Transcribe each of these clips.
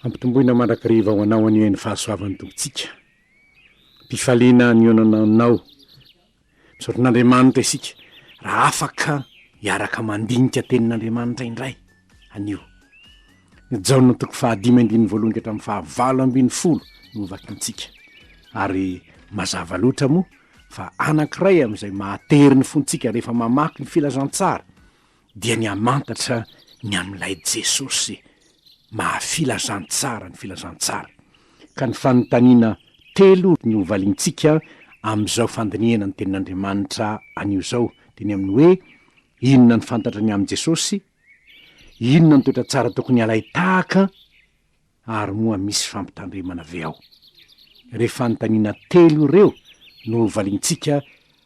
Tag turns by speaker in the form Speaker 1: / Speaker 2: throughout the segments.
Speaker 1: Ampitomboina mandrakariva ho anao anie ny fahasoavan'ny Tompontsika. Am-pifaliana nionana aminao. Misaotra an'Andriamanitra isika raha afaka hiaraka mandinika Tenin'Andriamanitra indray anio. Ny Jaona toko fahadimy andininy voalohany ka hatramin'ny fahavalo ambin'ny folo no hovakintsika. Ary mazava loatra moa fa anankiray amin'izay mahatery ny fontsika rehefa mamaky ny Filazantsara dia ny hamantatra ny amin'ilay Jesosy maha Filazantsara ny Filazantsara. Ka ny fanontaniana telo no hovaliantsika amin'izao fandinihana ny Tenin'Andriamanitra anio izao, dia ny amin'ny hoe, Inona no fantatra ny amin'i Jesosy? Inona no toetra tsara tokony halain-tahaka? Ary moa misy fampitandremana ve ao? Ireo fanontaniana telo ireo no hovaliantsika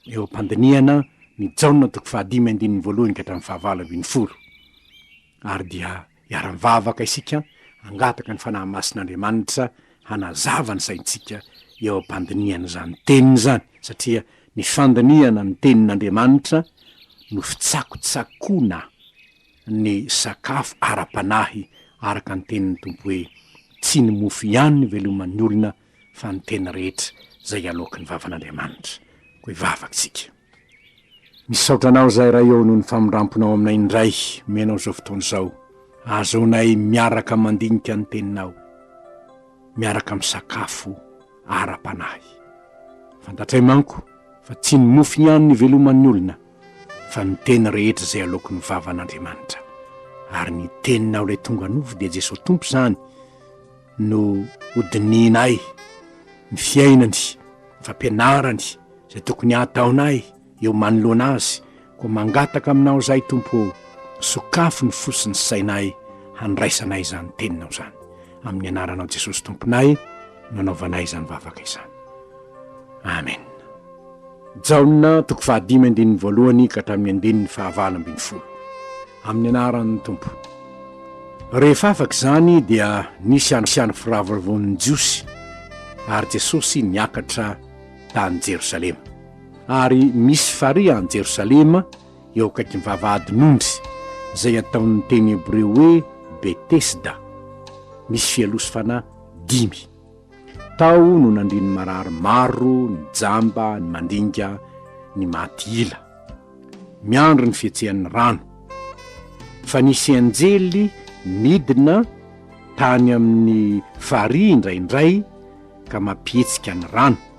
Speaker 1: eo am-pandinihana ny Jaona toko fahadimy andininy voalohany ka hatramin'ny fahavalo ambin'ny folo. Ary dia hiara-mivavaka isika hangataka ny Fanahy Masin'Andriamanitra hanazava ny saintsika eo am-pandinihana izany teniny izany, satria ny fandinihana ny Tenin'Andriamanitra no fitsakotsakoana. ny sakafo ara-panahy araka ny tenin'ny Tompo hoe, Tsy ny mofo ihany no iveloman'ny olona fa ny teny rehetra izay aloaky ny vavan'Andriamanitra. Koa hivavaka isika. Misaotra Anao izahay Ray ô noho ny famindramponao aminay indray omenao izao fotoana izao ahazoanay miaraka mandinika ny Teninao, miaraka misakafo ara-panahy. Fantatray manko fa tsy ny mofo ihany no iveloman'ny olona, fa ny teny rehetra izay aloako ny vavan' Andriamanitra, ary ny tenin' aho ilay tonga nofo dia Jesoa Tompo izany no ho dinihinay, ny fiainany, ny fampianarany, izay tokony hataonay eo manoloana Azy, koa mangataka aminao izahay Tompo ô, sokafy ny fo sy ny sainay handraisanay izany teninao izany. Amin'ny anaranao Jesosy Tomponay no anaovanay izany vavaka izany. Amen. Jaona toko fahadimy andininy voalohany ka hatramin'ny andininy fahavalo ambin'ny folo. Amin'ny anaran'ny Tompo. Rehefa afaka izany dia nisy ansiany firavoravoan'ny Jiosy ary Jesosy niakatra tany Jerosalema. Ary misy farihy any Jerosalema eo akaikin'ny vavahadin'ondry, izay ataon'ny teny hebreo hoe Betesda, misy fialoha sy fanahy dimy. Tao no nandrian'ny marary maro, ny jamba, ny mandinga, ny maty ila. Miandry ny fihetsehan'ny rano. Fa nisy anjely nidina tany amin'ny farihy indraindray ka mampihetsika ny rano.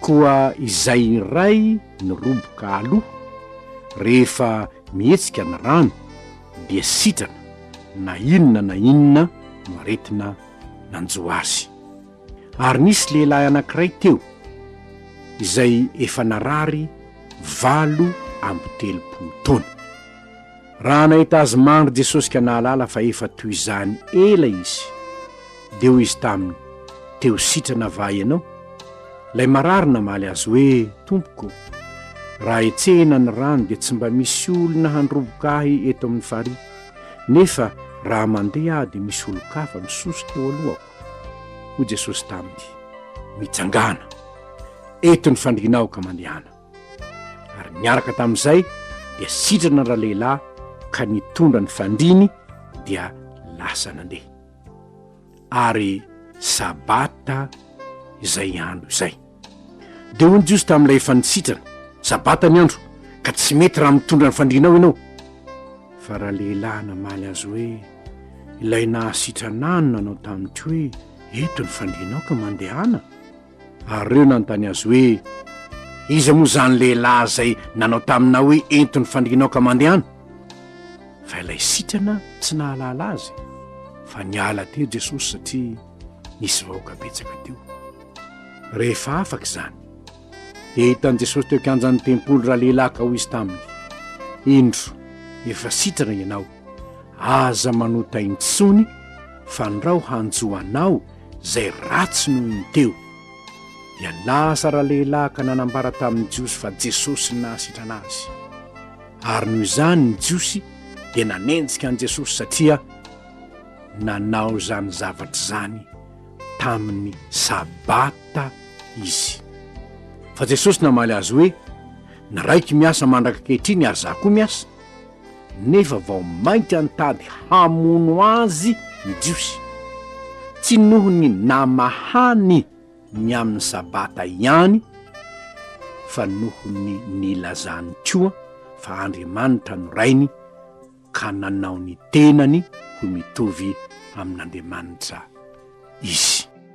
Speaker 1: Koa izay iray ny roboka aloha, rehefa mihetsika ny rano, dia sitrana, na inona na inona no aretina nanjo azy. Ary nisy lehilahy anankiray teo, izay efa narary valo amby telopolo taona. Raha nahita azy mandry Jesosy ka nahalala fa efa toy izany ela izy, dia hoy izy taminy, Teo sitrana va ianao? Ilay marary namaly azy hoe, Tompoko, raha hetsehina ny rano dia tsy mba misy olona handroboka ahy eto amin'ny farihy, nefa raha mandeha aho dia misy olon-kafa misoso teo alohako. Hoy Jesosy taminy, Mitsangàna! Eto ny fandrianao ka mandehana. ary niaraka tamin'izay dia sitrana ralehilahy ka nitondra ny fandriny dia lasa nandeha ary sabata izay andro izay dia hoy ny jiosy tamin'ilay efa nisitrana sabata ny andro ka tsy mety raha mitondra ny fandrinao ianao fa ralehilahy namaly azy hoe ilay nahasitranano nanao tamin'ity hoe eto ny fandrinao ka mandehana Ary ireo nanontany azy hoe, Iza moa izany lehilahy izay nanao taminao hoe ento ny fandrianao ka mandehana? Fa ilay sitrana tsy nahalala azy fa niala teo Jesosy satria nisy vahoaka betsaka teo. Rehefa afaka izany, dia hitan'i Jesosy teo kianjan'ny tempoly ralehilahy ka hoy izy taminy, Indro, efa sitrana ianao. Aza manota intsony fandrao hanjo anao zay ratsy noho ny teo. Ialaza ralehilahy ka nanambara tamin'ny Jiosy fa Jesosy no nahasitrana azy. Ary noho izany ny Jiosy dia nanenjika an'i Jesosy satria nanao izany zavatra izany tamin'ny sabata izy. Fa Jesosy namaly azy hoe, Ny Raiko miasa mandraka ankehitriny ary izaho koa miasa. nefa vao mainka nitady hamono azy ny Jiosy, tsy noho ny namahany ny amin'ny Sabata ihany, fa noho ny nilazany koa fa Andriamanitra no Rainy, ka nanao ny tenany ho mitovy amin'Andriamanitra izy.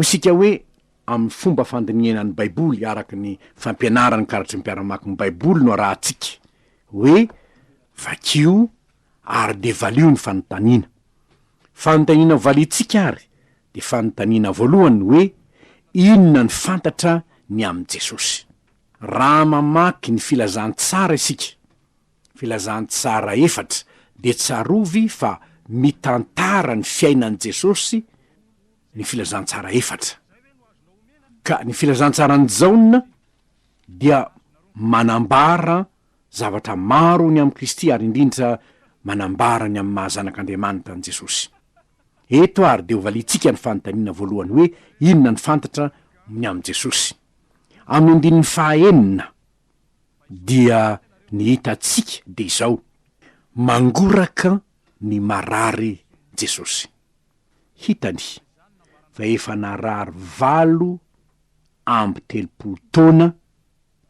Speaker 1: Hoy isika hoe, amin'ny fomba fandinihana ny Baiboly araka ny fampianaran'ny karatry ny mpiara-mamaky ny Baiboly no arahantsika hoe, Vakio, ary dia valio ny fanontaniana. Fanontaniana valiantsika ary dia fanontaniana voalohany hoe, Inona ny fantatra ny amin'i Jesosy? Raha mamaky ny Filazantsara isika, Filazantsara efatra, dia tsarovy fa mitantara ny fiainan'i Jesosy ny Filazantsara efatra. Ka ny Filazantsaran'i Jaona dia manambara zavatra maro ny amin'i Kristy ary indrindra manambara ny amin'ny maha Zanak'Andriamanitra an'i Jesosy. Eto ary dia hovaliantsika ny fanontaniana voalohany hoe inona no fantatra ny amin'i Jesosy. Amin'ny andininy fahaenina dia ny hitantsika dia izao, Mangoraka ny marary Jesosy. Hitany fa efa narary valo amby telopolo taona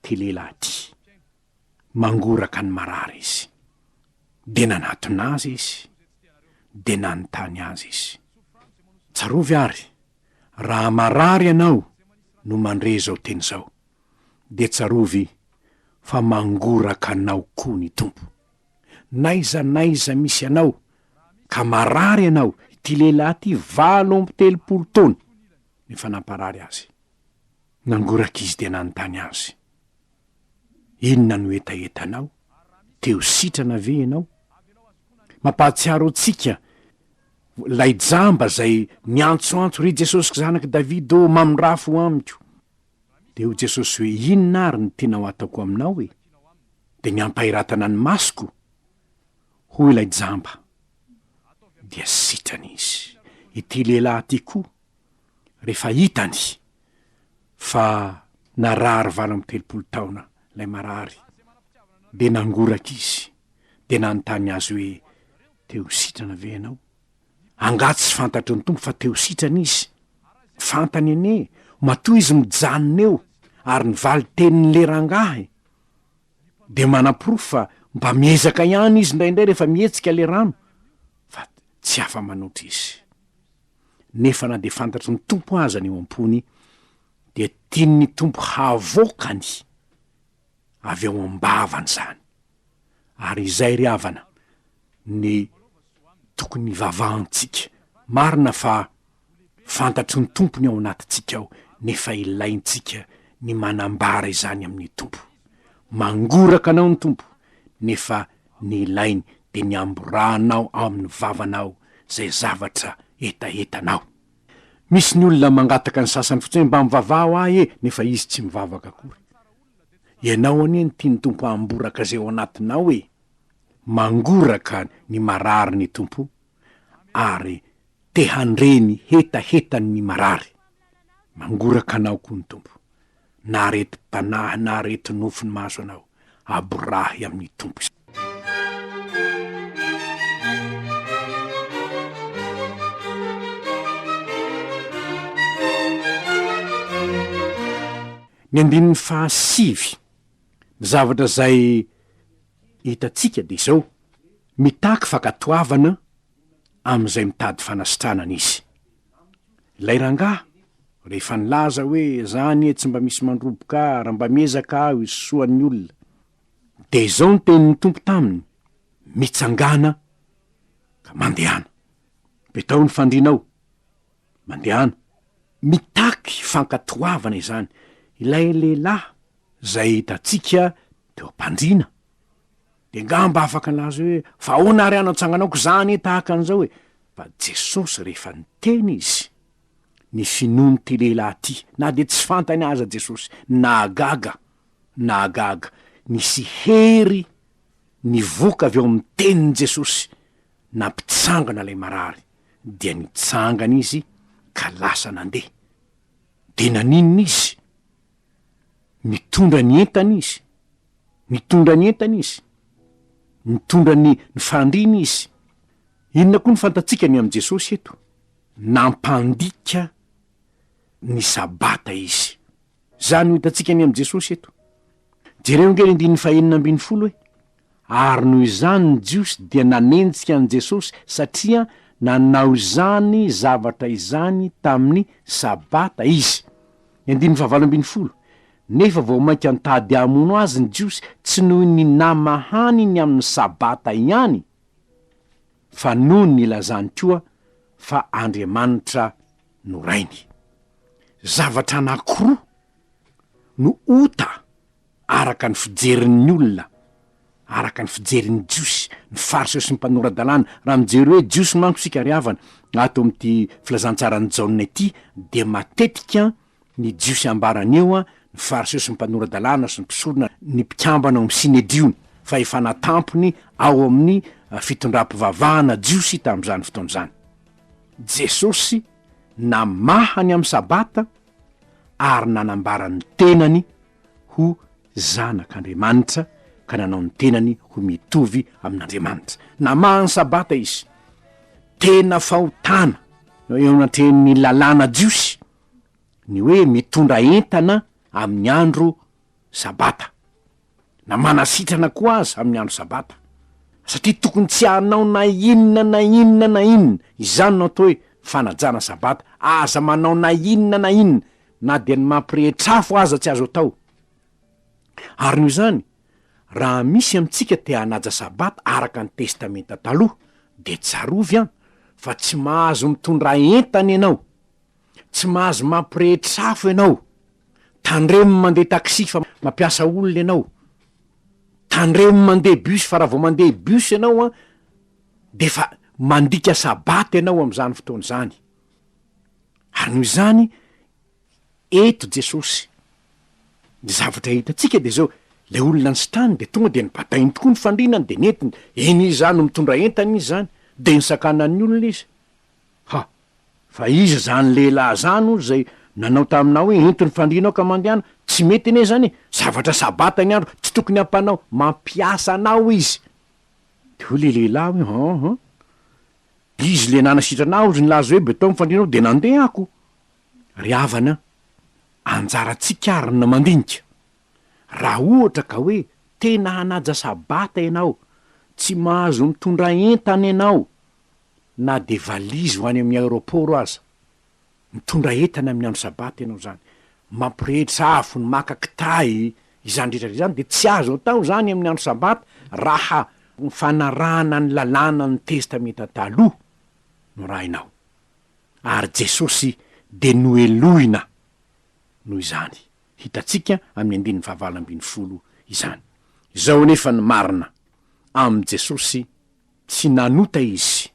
Speaker 1: Ty lehilahy ty, mangoraka ny marary izy, dia nanatona azy izy, dia nanontany azy izy, Tsarovy ary, raha marary ianao no mandre izao teny izao, dia tsarovy fa mangoraka anao koa ny Tompo. N'aiza n'aiza misy anao ka marary ianao, ity lehilahy ty valo amby telopolo taona, efa namparary azy. Nangoraka izy dia nanontany azy, Inona no hetahetanao? Te-hositrana ve ianao? Mampahatsiaro antsika ilay jamba izay niantsoantso, Ry Jesosy Zanak'i Davida ô, mamindrafo amiko! Dia hoy Jesosy hoe, Inona àry no tianao hataoko aminao e? Dia ny hampahiratana ny masoko? Hoy ilay jamba, dia sitrana izy. Ity lehilahy ity koa, rehefa hitany fa narary valo amby telopolo taona ilay marary dia nangoraka izy dia nanontany azy hoe, te ho sitrana ve ianao? Angaha tsy fantatry ny Tompo fa te ho sitrana izy? Fantany anie, matoa izy mijanona eo ary ny valin-tenin'ilay rangahy dia manaporofo fa mba miezaka ihany izy indraindray rehefa mihetsika ilay rano fa tsy afa-manoatra izy. nefa na dia fantatry ny Tompo aza ny eo am-pony, dia tian'ny Tompo havoakany avy ao am-bavany izany. Ary izay ry havana ny tokony hivavahantsika. Marina fa fantatry ny Tompo ny ao anatintsika ao, nefa ilaintsika ny manambara izany amin'ny Tompo. Mangoraka anao ny Tompo, nefa Ny ilainy dia ny hamborahanao ao amin'ny vavanao izay zavatra hetahetanao. Misy ny olona mangataka ny sasany fotsiny, mba mivavaho ahy e, nefa izy tsy mivavaka akory. Ianao anie no tian'ny Tompo hamboraka izay ao anatinao e! Mangoraka ny marary ny Tompo ary te handre ny hetahetan'ny marary. Mangoraka anao koa ny Tompo. na aretim-panahy na aretinofo ny mahazo anao, aborahy amin'ny Tompo izany. Ny andininy fahasivy, ny zavatra izay hitantsika dia izao, mitaky fankatoavana amin'izay mitady fanasitranana izy. Ilay rangahy, rehefa nilaza hoe, Izaho anie tsy mba misy mandroboka ahy raha mba miezaka aho hisosoa ny olona. Dia izao ny tenin'ny Tompo taminy, Mitsangàna ka mandehana. Petaho ny fandrianao. Mandehana. Mitaky fankatoavana izany ilay lehilahy izay hitantsika teo am-pandriana. De ngamba afaka laza hoe fa ahoana ary anao tsanganako za anie tahaka an'izao e! Fa Jesosy rehefa niteny izy, ny finoan'ity lehilahy ity, na dia tsy fantany aza Jesosy, nahagaga, nahagaga, nisy hery nivoka avy ao amin'ny tenin'i Jesosy, nampitsangana ilay marary, dia nitsangana izy ka lasa nandeha. De naninona izy? Mitondra ny entana izy. Mitondra ny entana izy. Mitondra ny fandriana izy. Inona koa no fantatsika ny amin'i Jesosy eto? Nampandika ny Sabata izy. Izany no hitantsika ny amin'i Jesosy eto. Jereo ange ny andininy fahenina ambin'ny folo e! Ary noho izany ny Jiosy dia nanenjika an'i Jesosy satria nanao izany zavatra izany tamin'ny Sabata Izy. Ny andininy fahavalo ambin'ny folo, Nefa vao mainka nitady hamono Azy ny Jiosy tsy noho ny namahany ny amin'ny Sabata ihany, fa noho ny lazany koa fa Andriamanitra no Rainy. Zavatra anankiroa no ota. araka ny fijerin'ny olona, araka ny fijerin'ny Jiosy, ny Fariseo sy ny mpanora-dalàna, raha mijery hoe Jiosy manko isika ry havana, ato amin'ity filazantsaran'i Jaona ity, dia matetika ny Jiosy ambarany eo, ny Fariseo sy ny mpanora-dalàna sy ny mpisorona, ny mpikambana ao amin'ny Synedriona, fahefana tampony ao amin'ny fitondram-pivavahana jiosy tamin'izany fotoana izany. Jesosy namaha ny amin'ny Sabata ary nanambara ny tenany ho zanak'Andriamanitra ka nanao ny tenany ho mitovy amin'Andriamanitra. Namaha ny Sabata izy. Tena fahotana eo anatrehan'ny lalàna jiosy ny hoe mitondra entana amin'ny andro Sabata, na manasitrana koa aza amin'ny andro Sabata, satria tokony tsy hanao na inona na inona na inona. Izany no atao hoe fanajana Sabata. Aza manao na inona na inona na dia ny mampirehitra afo aza tsy azo atao. Ary noho izany, raha misy amintsika te hanaja Sabata araka ny Testamenta Taloha, dia tsarovy an, fa tsy mahazo mitondra entana ianao, tsy mahazo mampirehitra afo ianao, tandremo mandeha taxi fa mampiasa olona ianao, tandremo mandeha bus fa raha vao mandeha bus ianao an, dia efa mandika Sabata ianao amin'izany fotoana izany. Ary noho izany, eto Jesosy. Ny zavatra hitantsika dia izao, ilay olona nisitrany dia tonga dia nobatainy tokoa ny fandriana dia nentiny, eny izy izany no mitondra entana izy izany, dia nisakana ny olona izy. Ha! Fa iza izany lehilahy izany hono izay nanao taminao hoe ento ny fandriana ao ka mandehana, tsy mety anie izany e, zavatra sabata ny andro, tsy tokony hampanao, mampiasa anao izy. Dia hoy ilay lehilahy hoe, Hum, hum, Izy le nanasitrana aho ozy nilaza hoe beton ny fandrianao de nandeha ako. Ry havana a, anjarantsika ary ny mandinika. Raha ohatra ka hoe tena hanaja sabata ianao, tsy mahazo mitondra entana ianao na de valizy ho any amin'ny aeroport aza. Mitondra entana amin'ny andro sabata ianao izany, mampirehitra afo ny maka kitahy, izany rehetra izany dia tsy azo atao izany amin'ny andro sabata raha ny fanarahana ny lalàna ny Testamenta Taloha no rahinao. Ary Jesosy dia nohelohina noho izany, hitantsika amin'ny andininy fahavalo ambin'ny folo izany. Izao anefa ny marina, amin'i Jesosy, Tsy nanota izy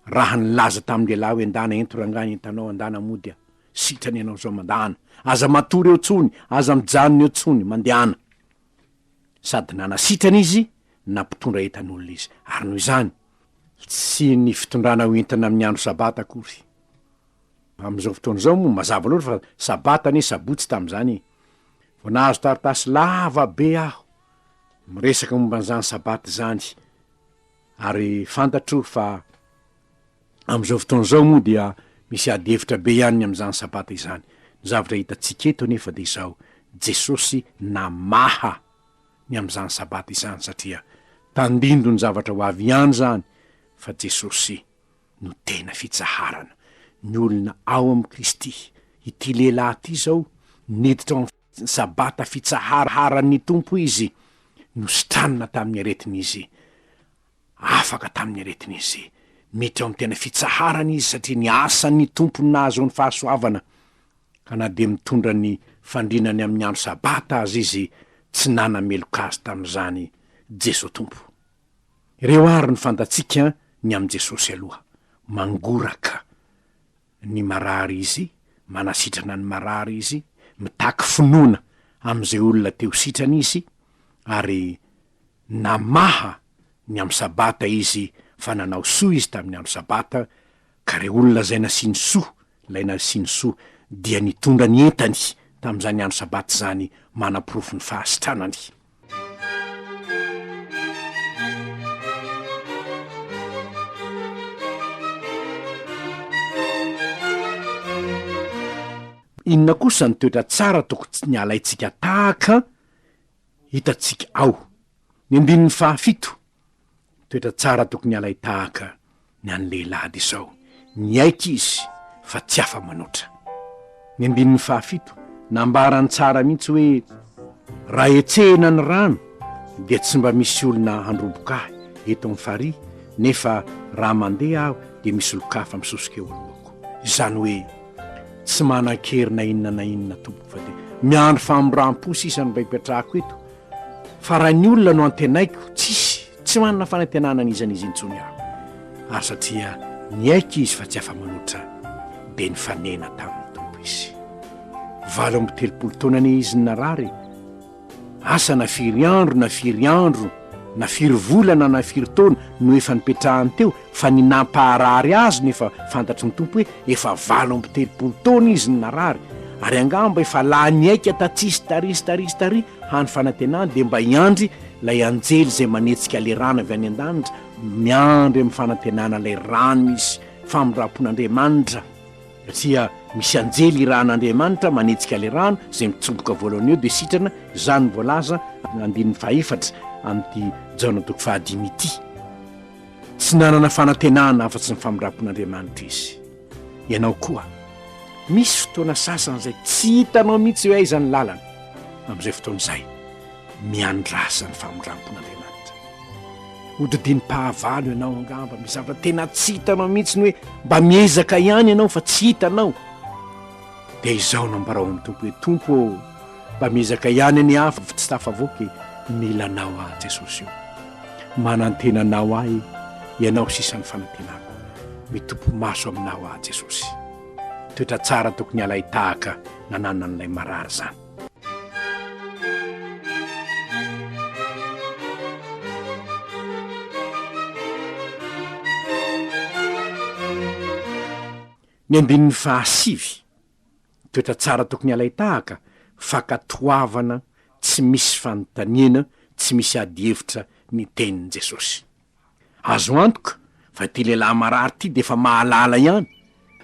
Speaker 1: raha nilaza tamin'ny lehilahy hoe ndana ento rangahy ny entanao andana mody a! sitrana ianao izao mandana! aza matory eo intsony, aza mijanona eo intsony, mandehana! sady nanasitrana izy na mpitondra entan'olona izy, ary noho izany, tsy ny fitondrana ho entana amin'ny andro sabata akory, amin'izao fotoana izao moa mazava loatra fa sabata anie sabotsy tamin'izany e! vao nahazo taratasy lava be aho, Miresaka momba an'izany Sabata izany ary fantatro fa amin'izao fotoana izao moa dia misy ady hevitra be ihany ny amin'izany Sabata izany. Ny zavatra hitantsika eto anefa dia izao, Jesosy namaha ny amin'izany Sabata izany satria tandindon'ny zavatra ho avy ihany izany fa Jesosy no tena fitsaharana. Ny olona ao amin'i Kristy. Ity lehilahy ity izao niditra ao amin'ny. Ny Sabata fitsaharan'ny Tompo izy nositranina tamin'ny aretin'izy, afaka tamin'ny aretin'izy. Mety eo amin'ny tena fitsaharany izy satria ny asan'ny Tompo no nahazoany fahasoavana, ka na dia mitondra ny fandriana ny amin'ny andro Sabata aza izy, tsy nanameloka azy tamin'izany Jesoa Tompo. Ireo àry no fantatsika ny amin'i Jesosy aloha, mangoraka. ny marary izy, manasitrana ny marary izy, mitaky finoana amin'izay olona te ho sitrana izy, ary namaha ny amin'ny Sabata izy fa nanao soa izy tamin'ny andro Sabata, ka ireo olona izay nasiany soa, ilay nasiany soa dia nitondra ny entany tamin'izany andro Sabata izany manaporofo ny fahasitranany. Inona kosa ny toetra tsara toko tsy ny alaintsika tahaka hitantsika ao? Ny andininy fahafito. Toetra tsara tokony halay tahaka ny an'ny lehilahy dia izao, niaiky izy fa tsy afa-manoatra. Ny andininy fahafito, nambarany tsara mihitsy hoe, Raha hetsehina ny rano, dia tsy mba misy olona handroboka ahy eto amin'ny farihy, nefa raha mandeha aho, dia misy olon-kafa misosika eo anoloako. Izany hoe, tsy manan-kery na inona na inona, tompoko, fa dia miandry famindram-po sisa no mba hipetrahako eto, Fa raha ny olona no antenaiko, tsisy, tsy manana fanantenana an'izan'izy intsony aho. Ary satria niaiky izy fa tsy afa-manoatra, dia nifanena tamin'ny Tompo izy. Valo amby telopolo taona anie izy no narary. Asa na firy andro na firy andro, na firy volana na firy taona no efa nipetrahany teo, Fa ny nampaharary azy no efa fantatry ny Tompo hoe efa valo amby telopolo taona izy no narary, ary angamba efa lany aika tatsisy taria sy taria sy taria hany fanantenany dia mba hiandry ilay anjely izay manetsika ilay rano avy any an-danitra, miandry amin'ny fanantenana ilay rano misy famindram-pon'Andriamanitra, satria misy anjely irahan'Andriamanitra manetsika ilay rano izay mitsomboka voalohany eo dia sitrana, izany no voalaza andininy fahaefatra amin'ity Jaona toko fahadimy ity. Tsy nanana fanantenana afa-tsy ny famindram-pon'Andriamanitra izy. Ianao koa, misy fotoana sasany izay tsy hitanao mihitsy hoe aiza ny lalana. Amin'izay fotoana izay, miandrasa ny famindram-pon'Andriamanitra. Hodidinim-pahavalo ianao angamba, misy zavatra tena tsy hitanao mihitsy ny hoe mba miezaka ihany ianao fa tsy hitanao. Dia izao no ambarao ny Tompo hoe, Tompo ô, mba miezaka ihany ny afo tsy tafavoaka e, mila anao aho Jesosy ô. Manantena anao ahy, ianao sisa ny fanantenako. Mitopy maso aminao aho Jesosy. Toetra tsara tokony halay tahaka nananan'ilay marary izany. Ny andininy fahasivy, Toetra tsara tokony halain-tahaka, fankatoavana tsy misy fanontaniana, tsy misy adihevitra ny tenin'i Jesosy. Azo antoka fa ity lehilahy marary ity dia efa mahalala ihany,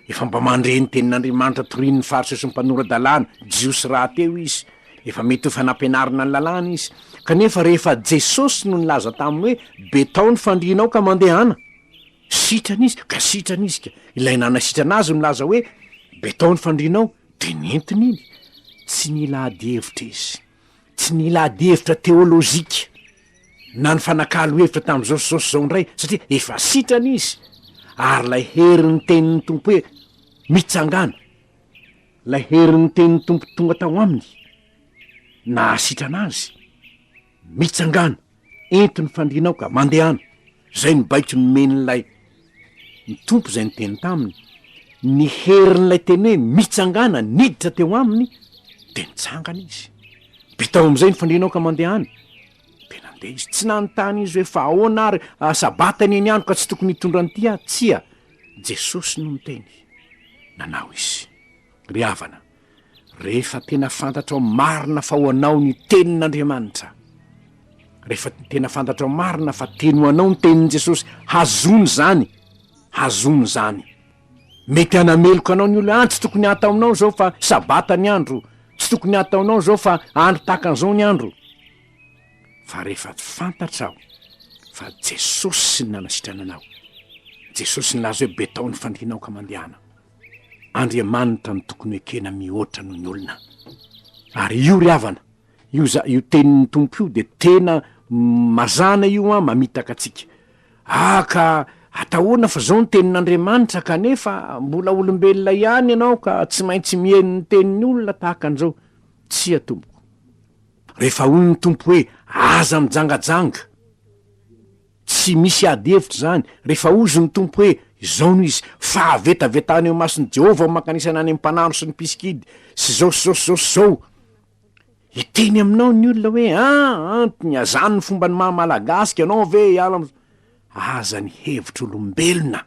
Speaker 1: efa mba mandre ny tenin'Andriamanitra torian'ny Fariseo sy ny mpanora-dalàna jiosy rahateo izy, efa mety ho efa nampianarina ny Lalàna izy. Kanefa rehefa Jesosy no nilaza taminy hoe betaho ny fandrianao ka mandehana! Sitrana izy ka sitrana izy ka! Ilay nanasitrana azy nilaza hoe, Betao ny fandrianao, dia nentiny iny. Tsy nila adihevitra izy. Tsy nila adihevitra teolojika, na nifanakalo hevitra tamin'i Jaosy Jaosy izao indray, satria efa sitrana izy. Ary ilay herin'ny tenin'ny Tompo hoe, Mitsangàna! Ilay herin'ny tenin'ny Tompo tonga tao aminy, nahasitrana azy. Mitsangàna, ento ny fandriana ao ka mandehana! Izay no baiko nomen'ilay ny Tompo izay niteny taminy. Ny herin'ilay teny hoe mitsangàna niditra teo aminy dia nitsangana izy. Bitao amin'izay ny fandriana ao ka mandehana! Dia nandeha izy. Tsy nanontany izy hoe fa ahoana ary, a, Sabata anie ny andro ka tsy tokony hitondra an'ity aho. Tsia, Jesosy no niteny. Nanao izy. Ry havana, Rehefa tena fantatrao marina fa ho anao ny Tenin'Andriamanitra, rehefa tena fantatrao marina fa teny ho anao ny Tenin'i Jesosy, hazono izany, hazono izany. Mety hanameloka anao ny olona, ah, tsy tokony hataonao izao fa Sabata ny andro, tsy tokony hataonao izao fa andro tahaka an'izao ny andro. Fa rehefa fantatrao fa Jesosy no nanasitrana anao, Jesosy nilaza hoe betao ny fandrianao ka mandehana. Andriamanitra no tokony ho ekena mihoatra noho ny olona. Ary io ry havana, io za- io tenin'ny Tompo io dia tena mazàna io an, mamitaka antsika. Ah ka atahoana fa zao ny tenin'Andriamanitra kanefa mbola olombelona ihany ianao ka tsy maintsy mihaino ny tenin'ny olona tahaka an'izao. Tsia tompoko. Rehefa hoy ny Tompo hoe aza mijangajanga. Tsy misy ady hevitra izany rehefa hozy ny Tompo hoe, Izao no izy, fahavetavetana eo imason'i Jehovah ny mankanesana any amin'ny mpanandro sy ny mpisikidy, sy izao sy izao sy izao sy izao. Hiteny aminao ny olona hoe, Ah, antony, azany ny fomban'ny maha Malagasy ianao ve hiala amin'izao? Aza ny hevitr'olombelona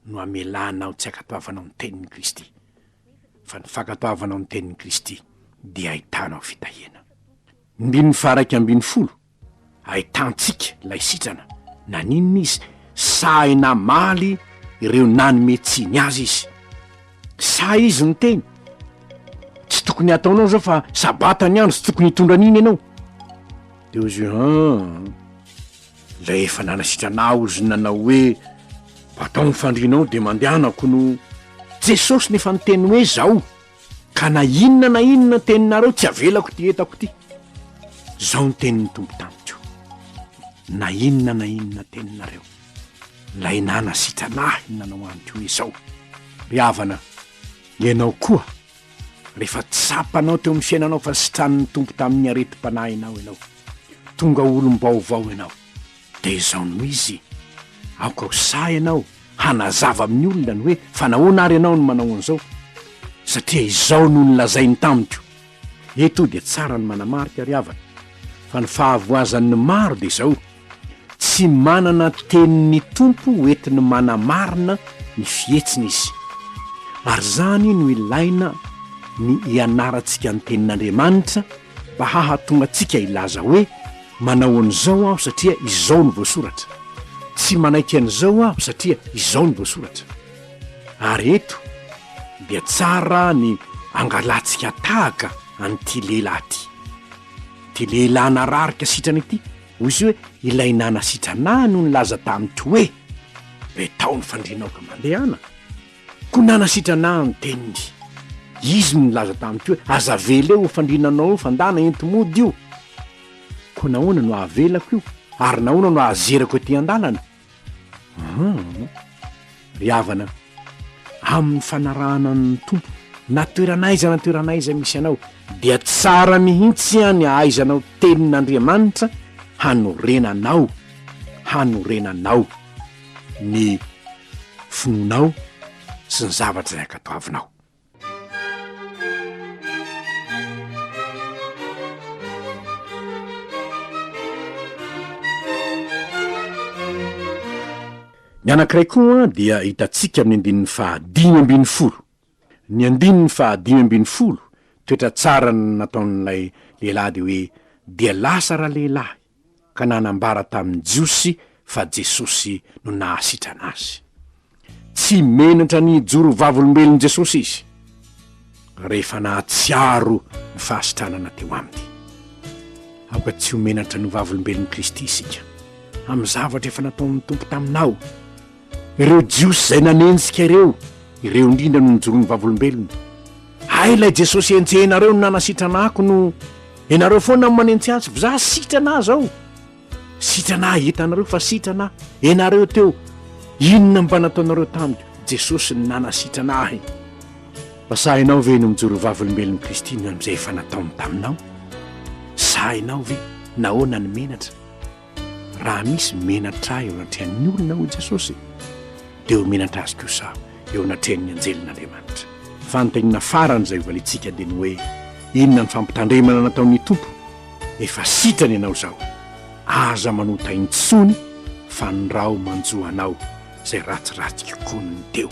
Speaker 1: no hamelanao tsy hankatoavanao ny tenin'i Kristy, fa ny fankatoavanao ny tenin'i Kristy dia ahitanao fitahiana. Ny andininy faha-raika ambin'ny folo. Ahitantsika ilay sitrana. Naninona izy? Sahy namaly ireo nanome tsiny azy izy. Sahy izy niteny. Tsy tokony hataonao izao fa sabata ny andro, tsy tokony hitondra an'iny ianao. Dia hozy hoe, An! Ilay efa nanasitrana ahy hozy nanao hoe, Batao ny fandrianao dia mandehanako no. Jesosy no efa niteny hoe, Izao! Ka na inona na inona ny teninareo tsy avelako ity entako ity. Izao ny tenin'ny Tompo tamiko, Na inona na inona teninareo, Ilay nanasitrana ahy no nanao amiko hoe izao, Ry havana, ianao koa, rehefa tsapanao teo amin'ny fiainanao fa sitranin'ny Tompo tamin'ny aretim-panahinao ianao, tonga olom-baovao ianao. Dia izao no izy, aoka ho sahy ianao hanazava amin'ny olona ny hoe fa nahoana ary ianao no manao an'izao, satria izao no nolazainy tamiko. Eto dia tsara ny manamarika, ry havana, fa ny fahavoazan'ny maro dia izao, tsy manana tenin'ny Tompo hoentiny manamarina ny fihetsiny izy. Ary izany no ilaina ny hianarantsika ny Tenin'Andriamanitra mba hahatonga antsika hilaza hoe. Manao an'izao aho satria izao no voasoratra. Tsy manaiky an'izao aho satria izao no voasoratra. Ary eto dia tsara ny angalantsika tahaka an'ity lehilahy ity. Ity lehilahy nararika sitrana ity, hoy izy hoe, Ilay nanasitranà no nilaza tamiko hoe, Re taho ny fandrianao ka mandehana. Koa nanasitrana ahy ny teniny. Izy no nilaza tamiko hoe, Aza avela io fandrinanao io, fandàna enti-mody io. Koa nahoana no avelako io? Ary nahoana no azerako ety an-dàlana? Hum! Ry havana, amin'ny fanarahana an'ny Tompo, na toerana aiza na toerana aiza misy anao, dia tsara mihitsy ny hahaizanao tenin'Andriamanitra hanorenanao, hanorenanao. ny finoanao sy ny zavatra izay ankatoavinao ny anankiray koa dia hitantsika amin'ny andininy fahadimy ambin'ny folo Ny andininy faha dimy ambin'ny folo, toetra tsara nataon'ilay lehilahy dia hoe, Dia lasa ralehilahy, ka nanambara tamin'ny Jiosy fa Jesosy no nahasitrana azy. Tsy menatra ny hijoro ho vavolombelon'i Jesosy izy, rehefa nahatsiaro ny fahasitranana teo aminy. Aoka tsy ho menatra ny ho vavolombelon'i Kristy isika, amin'ny zavatra efa nataon'ny Tompo taminao. Ireo Jiosy izay nanenjika ireo, ireo indrindra no nojoron'ny Vavolombelona. Hay ilay Jesosy enjehinareo no nanasitrana ahy kono ianareo foana no manentsy azy, za sitrana ahy zao? Sitrana ahy hitanareo fa sitrana ahy, ianareo teo inona mba nataonareo tamiko? Jesosy no nanasitrana ahy. Fa sahinao ve ny mijoro ho Vavolombelon'i Kristy noho amin'izay efa nataony taminao? Sahinao ve? Nahoana ny menatra? Raha misy menatra ahy eo anatrehan'ny olona, hoy Jesosy, dia ho menatra azy kosa aho eo anatrehan'ny anjelin'Andriamanitra. Ny fanontaniana farany izay hovaliantsika dia ny hoe, Inona ny fampitandremana nataon'ny Tompo? Efa sitrana ianao izao. Aza manota intsony fa ny raho manjo anao izay ratsiratsy kokoa noho ny teo.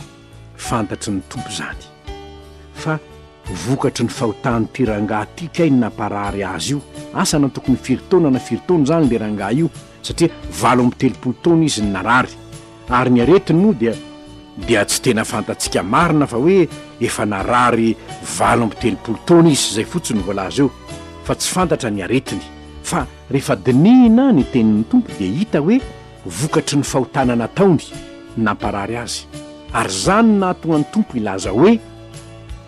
Speaker 1: Fantatry ny Tompo izany. Fa vokatry ny fahotan'ity rangahy ity kay ny namparary azy io. Asa na tokony firy taona na firy taona izany ilay rangahy io satria valo amby telopolo taona izy no narary. Ary ny aretiny moa dia dia tsy tena fantatsika marina fa hoe efa narary valo amby telopolo taona izy, izay fotsiny no voalaza eo fa tsy fantatra ny aretiny. Fa rehefa dinihina ny tenin'ny Tompo dia hita hoe Vokatry ny fahotana nataony no namparary azy, ary izany no nahatonga ny Tompo hilaza hoe,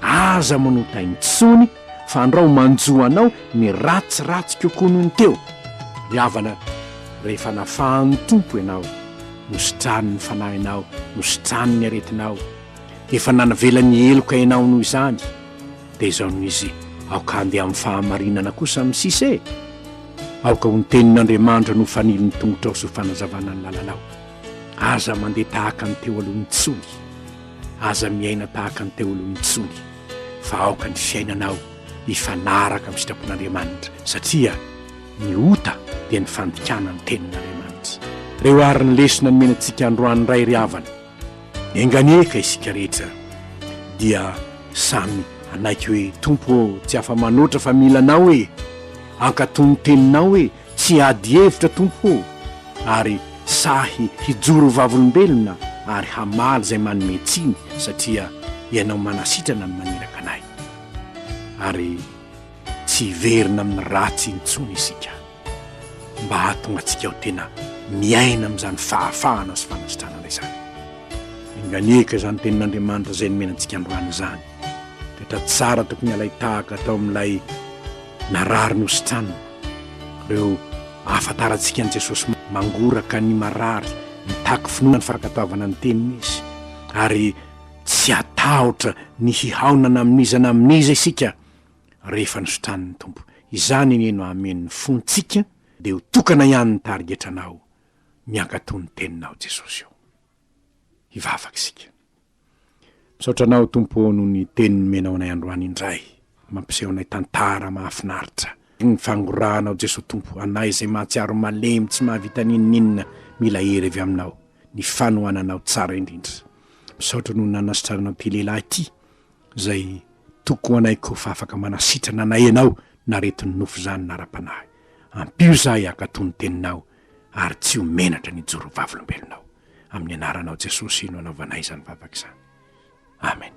Speaker 1: Aza manota intsony, fa andro aho manjo anao ny ratsy ratsy kokoa noho ny teo. Ry havana, rehefa nafahan'ny Tompo ianao, nositranin'ny fanahinao, nositranin'ny aretinao, Efa nanavela ny heloka ianao noho izany, dia izao no izy, Aoka handeha amin'ny fahamarinana kosa amin'ny sisa e! Aoka ho ny tenin'Andriamanitra no ho fanilin'ny tongotrao sy ho fanazavana ny lalanao. Aza mandeha tahaka ny teo aloha intsony. Aza miaina tahaka ny teo aloha intsony, fa aoka ny fiainanao hifanaraka amin'ny sitrapon'Andriamanitra, satria ny ota dia ny fandikana ny tenin'Andriamanitra. Reo ary ny lesona nomena antsika androany indray ry havana. Enganie ka isika rehetra dia samy hanaiky hoe, Tompo ô, tsy afa-manoatra fa mila Anao e! Ankatò ny Teninao e! Tsy hiady hevitra, Tompo ô, ary sahy hijoro ho vavolombelona ary hamaly izay manome tsiny, satria Ianao manasitrana ny maniraka anay. Ary tsy hiverina amin'ny ratsy intsony isika. mba hahatonga antsika ho tena miaina amin'izany fahafahana sy fanasitranana izany. Enganieka izany tenin'Andriamanitra izay nomena antsika androany izany. Toetra tsara tokony halay tahaka tao amin'ilay narary nositranina, ireo ahafantarantsika an'i Jesosy mangoraka ny marary, mitaky finoana ny fankatoavana ny teniny izy, ary tsy hatahotra ny hihaonana amin'iza na amin'iza isika. rehefa nositranin'ny Tompo izany anie no hamen'ny fontsika dia ho tokana ihany ny tarigetranao miankato ny teninao Jesosy ô. Hivavaka isika. Misaotra anao Tompo ô noho ny teny nomenao anay androany indray mampiseho anay tantara mahafinaritra ny fangorahanao Jesosy Tompo anay izay mahatsiaro malemy tsy mahavita n'inon'inona mila hery avy aminao ny fanohananao tsara indrindra. Misaotra noho ny nanasitrananao ity lehilahy ity Izay toko anay ko fa afaka manasitrana anay ianao naretin'ny nofo izany nara-panahy. Ampio izahay hankato ny teninao ary tsy ho menatra ny hijoro ho vavolombelonao. Amin'ny anaranao Jesosy no anaovanay izany vavaka izany. Amen.